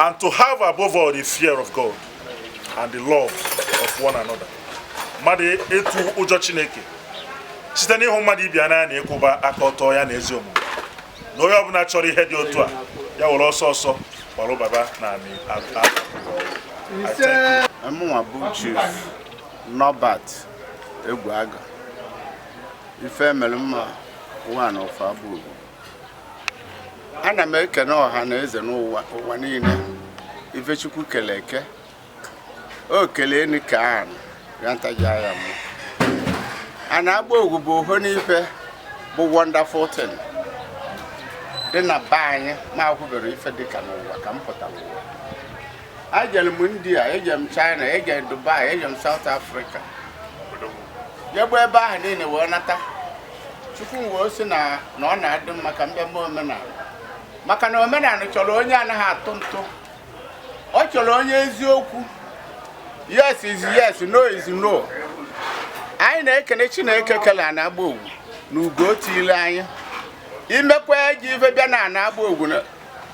and to have above all the fear of God and the love of one another mmadụ ịtụ ụjọ chineke site n'ịhụ mmadụ ibe ya n'anya na ịkwụba aka ọtọ ya na ezi omume na onye ọbụla chọrọ ihe dị otu a ya were ọsọ ọsọ gbarụ baba na amị mụnwa bụ chief Norbert Egwuaga ife mere mma one of Agbaogugu ana m ekene ọha na eze n'ụwa niile ife chukwu kele eke o kelee ni ka ahụ ya ntaji anya m ana Agbaogugu bụ oho n'ife bụ wonderful thing dị na be anyị ma akwụbere ife dị ka n'ụwa ka m pụtara ụwa ejere m india ejere m china ejere m dubai ejere m south africa jegbu ebe ahụ niile wee nata chukwu m wee sị na ọ na-adị mma ka m bịa mee omenala maka na omenala chọrọ onye anaghị atụ ntụ ọ chọrọ onye eziokwu yes is yes no is no anyị na-ekene chineke kele ana Agbaogugu na ugo o tiile anyị i mekwa ajọ ife bịa na ana Agbaogugu na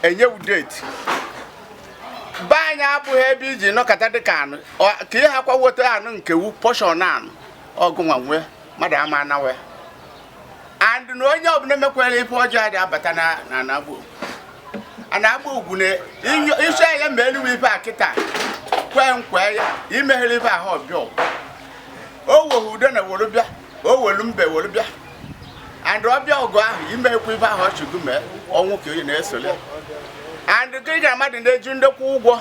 enye wu date be anyị abụghị ebe iji nọkọta dịka anụ ka ihe akwa weta anụ nke wu portion anụ ọgụ nwa nwe mmadụ ama anawe and na onye ọbụla mekwere ife ọjọọ dị abata na ana Agbaogugu ana Agbaogugu na isi ya ma eluwe ife a kịta kwee nkwe ya imeghere ife ahụ ọbịa o weghị udo na were bịa o welu mbe welu bịa and ọbịa ọgụ ahụ imekwa ife ahụ ọchụgụ mee ọnwụ ka onye na-esole and gị na mmadụ na-eju ndekwa ụgwọ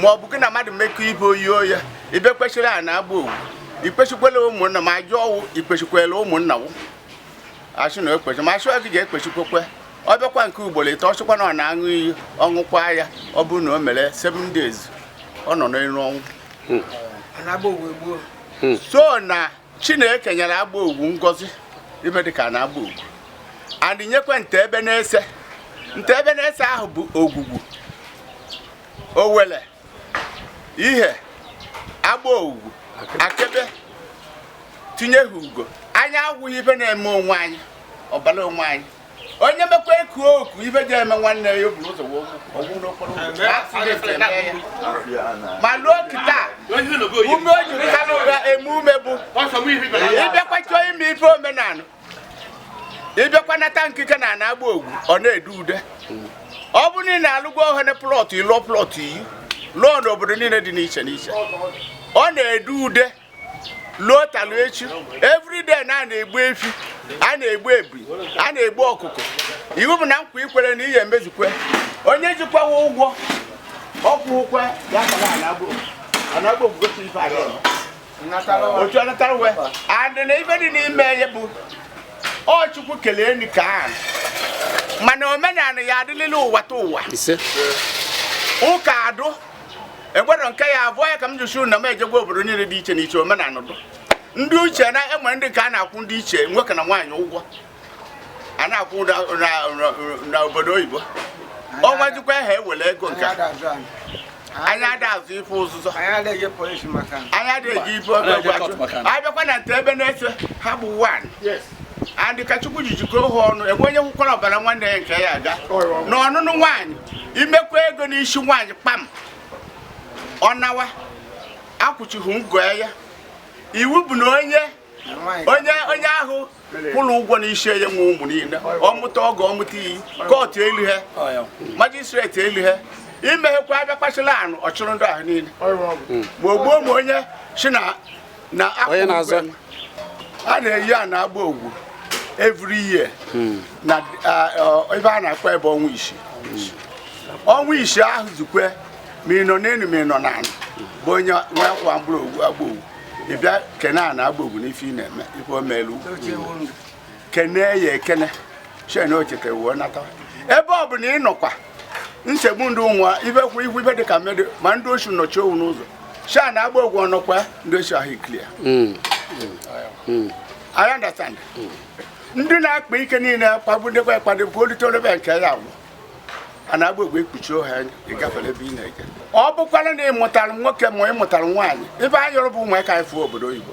ma ọ bụ gị na mmadụ mekọ ibe oyi oyi ibe kwesịrị ana Agbaogugu ikpechikwela ụmụnna ma ajụ ọwụ ikpechikwela ụmụnna wụ achụ na ekpechi ma achụ gị ga-ekpechikwekwe ọ bịakwa nke ugboro ịtọ ọ chụkwa na ọ na-aṅụ iyi ọṅụkwa ya ọ bụrụ na o mere seven days ọ nọ n'elu ọnwụ hmm. hmm. so na chineke nyere Agbaogugu ngozi ihe dịka na Agbaogugu and nyekwa Ntegbe Nese Ntegbe Nese ahụ bụ Ogugu Owelli Ihe Agbaogugu Akegbe tinye ha ugo anyị agwụghị ife na-eme onwe anyị ọbara onwe anyị onye mekwa eku oku ife ji eme nwanne ya oburu ụzọ ọgwụ n'okporo ma luo kịta ume o jiri ha n'ụra eme ume bụ ịbịakwa chọọ ime ife omenala ịbịakwa nata nkike na ana Agbaogugu ọ na-ede ude ọ bụ niile alụgwo ohene plọtụ ịlụọ plọtụ iyi lụọ n'obodo niile dị n'iche n'iche ọ na-ede ude luo talu echi everyday na a na-egbu efi a na-egbu ebi a na-egbu ọkụkọ iwu bụ na nkwa i kwere na ihe e mezukwe onye jikwawa ụgwọ ọ kwụkwa ya na Agbaogugu si ife a otu a natara uwe and na ife dị n'ime ya bụ ọ Chukwu kelee ni ka ahụ mana omenala ya adịlịla ụwa ta ụwa ụka adụ egwero nke ya abụọ ya ka m ji sị na m ejegwa obodo niile dị iche n'iche omenala dụ ndị uche na e nwere ndị nke a na-akwụ ndị ichie nwoke na nwaanyị ụgwọ a na-akwụ na obodo oyibo ọnwa jikwa ha ewere ego nke anyị ada azụ ife ụzụzọ anyị adịghị ife ọgwụ a bịakwa na nte ebe na-efe ha bụ one and ka Chukwu ji jikọọ ha ọnụ enwe onye kwukwara ọbara nwanne ya nke ya aga na ọnụnụ nwaanyị i mekwa ego n'isi nwaanyị kpam ọ nawa a kwụchighị ngọ ya iwu bụ na onye ahụ kwụrụ ụgwọ n'isi ya nwe ụmụ niile ọ mụta ọgọ ọ mụta iyi court elu ha magistrate elu ha i meghekwa a bịa kpachila anụ ọ chịrị ndị ahụ niile ma ogbuo ma onye si na na onye na-azọ a na-eyi ana Agbaogugu every year hmm. na ebe a na-akpọ ebe ọnwa isii ọnwa isii ahụ zukwe ma ị nọ n'elu ma ị nọ n'ala bụ onye nwa akwa mkpụrụ Agbaogugu ị bịa kene ana Agbaogugu n'ife ị na-eme ife o melu kene ya ekene shị na o chetewo nata ebe ọ bụla ị nọkwa nsogbu ndị ụmụa ibe kwụ ihu ibe dị ka mmadụ ma ndị oshi nọchi owu n'ụzọ shị ana Agbaogugu ọ nọkwa ndị oshi ahụ e clear hmm. hmm. I understand hmm. ndị na-akpa ike niile kpagbu ndekwa ekpado bụ olite olebe nke ya agwụ ana Agbaogugu ekpuchi ha ị gafere ebe ị na-eje ọ bụkwara na ị mụtara nwoke ma ị mụtara nwaanyị ife anyị yọrọ bụ ụmụaka anyị fụọ obodo oyibo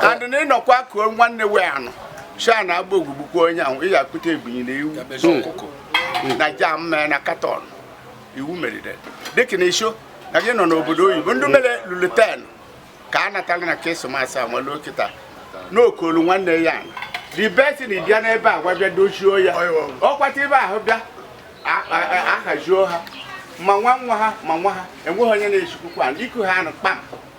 and na ị nọkwa kuo nwanne wee ana shị ana Agbaogugu gbukwuo onye ahụ ị ga-akpụta ebunyi na ewu ọkụkọ na jar mmee na carton iwu merire dịka na ị shị na gị nọ n'obodo oyibo ndị mere luluten ka a natara na Christmas a nwere kịta na o kulu nwanne ya the best na ị bịa n'ebe a gwa bịa dochie ya ọkwata ebe ahụ bịa ahajuo ha ma nwa nwa ha ma nwa ha enweghị onye na-echikwukwa iku ha ana kpam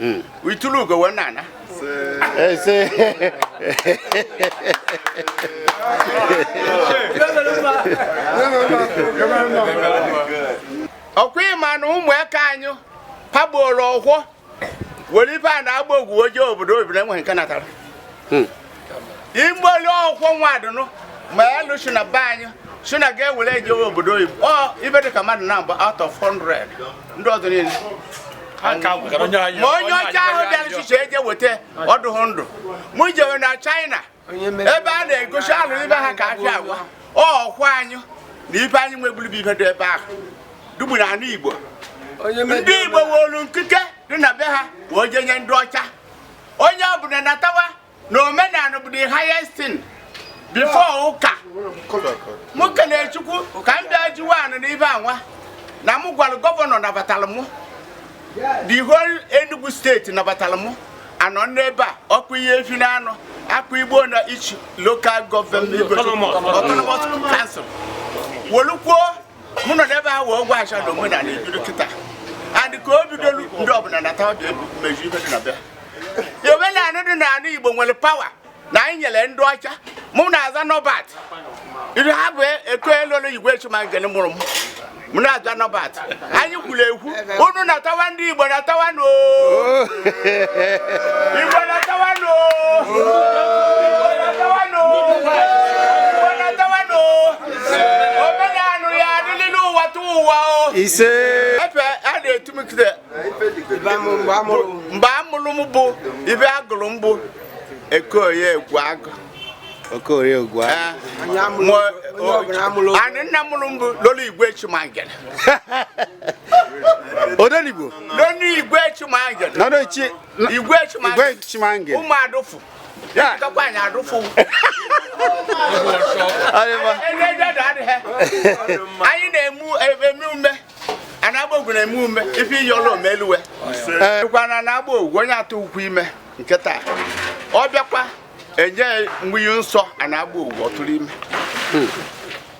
Mm. I tulu ugo wee na-ana. Isee. ọ kwa ị ma na ụmụaka anyị pagboro ọkwọ were ife ana Agbaogugu je obodo oyibo enweghị nke natara igboli ọkwụkwọ nwa adụnụ ma alụsị na be anyị si na ga-ewere ejewe obodo oyibo ọ ife dị ka mmadụ naabọ out of 100 ndị ọzọ niile ma onye ọcha ahụ bịara chiche eje weta ọdụghụ ndụ mụ jewe na China ebe a na-egosi alụ ibe ha ka afịa agwa ọkwa anyị na ife anyị nweburu bụ ife dị ebe ahụ dụgbu na anị Igbo ndị Igbo wolu nkike dị na be ha wee jenye ndị ọcha onye ọbụla natawa na omenala bụ the highest thing before ụka mụ kelee chukwu ka m bịa jiwe anọ n'ebe anwa na m gwara gọvanọ nabatara mụ the whole Enugu State nabatara mụ anọ n'ebe a ọkụ ihe efi na anụ akụ Igbo na each local government autonomous council wolukwuo mụ nọ n'ebe a wee gwa acha na omenala ebido kịta adị ka o bidolu ndị ọbụla natawa meju ife dị na be ya omenala dị n'ala Igbo nwere pawa na anyị nyere ndị ọcha mụ na-aza Norbert iru ha bụ eko elolo igwe chimangene mụrụ m m na-aza Norbert anyị kwuru ekwu unu natawa ndị Igbo natawa nụ o Igbo natawa nụ o isee ife a na-etu m kide mgbe a mụrụ m bụ ife a gụrụ m bụ Okoye egwu agụ okorie egwu agụ anị nna mụrụ m bụ lolo igwe chimangere odenigbo lolo igwe chimangere igwe chimangere ụmụ adụfụ Yeah. Ka kwa anyị adụfụ. Anyị ma. Ene ja da de he. Anyị na-eme eme eme. Ana Agbogugu na-eme eme. Ife yo lo omeluwe. Eh. Kwa na ana Agbogugu onye atụ ukwu ime nke taa. Ọ bịakwa e nye mmiri nsọ ana Agbogugu ọ tụrụ ime. Hmm.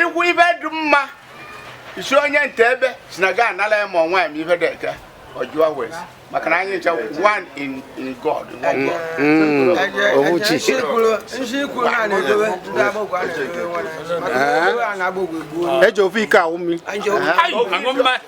ikwu ife dị mma isi onye nte ebe si na ga-anala ya ma ọ nwaanyị ma ife dị eke ọjụọ wee maka na anyị ncha one in in God mm, mm. owuchi nshi kwuru na na-edobe ndị Agbogugu a na-edobe nwere eji ofu iko aṅụ mmiri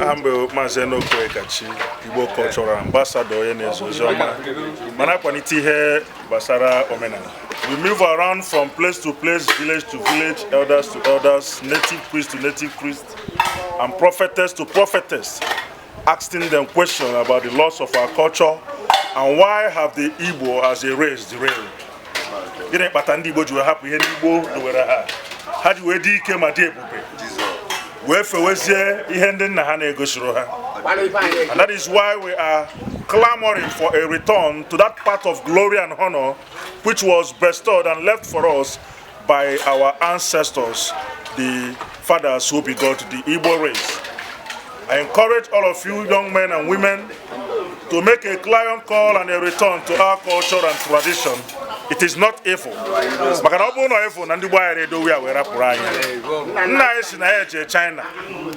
aha m bụ maazị Enoch Onyekachi Igbo Cultural Ambassador onye na-ezi ozi ọma ma na-akwalite ihe gbasara omenala we move around from place to place village to village elders to elders native priest to native priest and prophetess to prophetess Asking them question about the loss of our culture and why have the Igbo as a race derailed? Gịnị kpata ndị Igbo ji wee hapụ ihe ndị Igbo dowere ha? Ha ji wee dị ike ma dị ebube wee fewezie ihe ndị nna ha na-egosiro ha. And that is why we are clamoring for a return to that path of glory and honor which was bestowed and left for us By our ancestors, the fathers who begot the Igbo race. I encourage all of you young men and women to make a clarion call and a return to our culture and tradition. It is not evil. maka na ọ bụrụ na evil na ndị gboo agaghị edowe ya wee rapụrụ anyị nna anyị si na ya eje China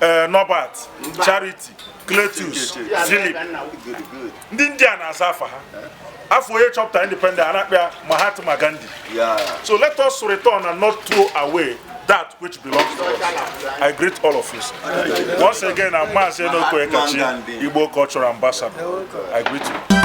eh, Norbert Charity Cletus Philip ndị India na-aza afa ha afa onye chọpụta independent a na-akpọ ya Mahatma Gandhi so let us return and not throw away that which belongs to us. I greet all of you. Once again, I'm Mazi Enoko Ekachi, Igbo Cultural Ambassador. I greet you.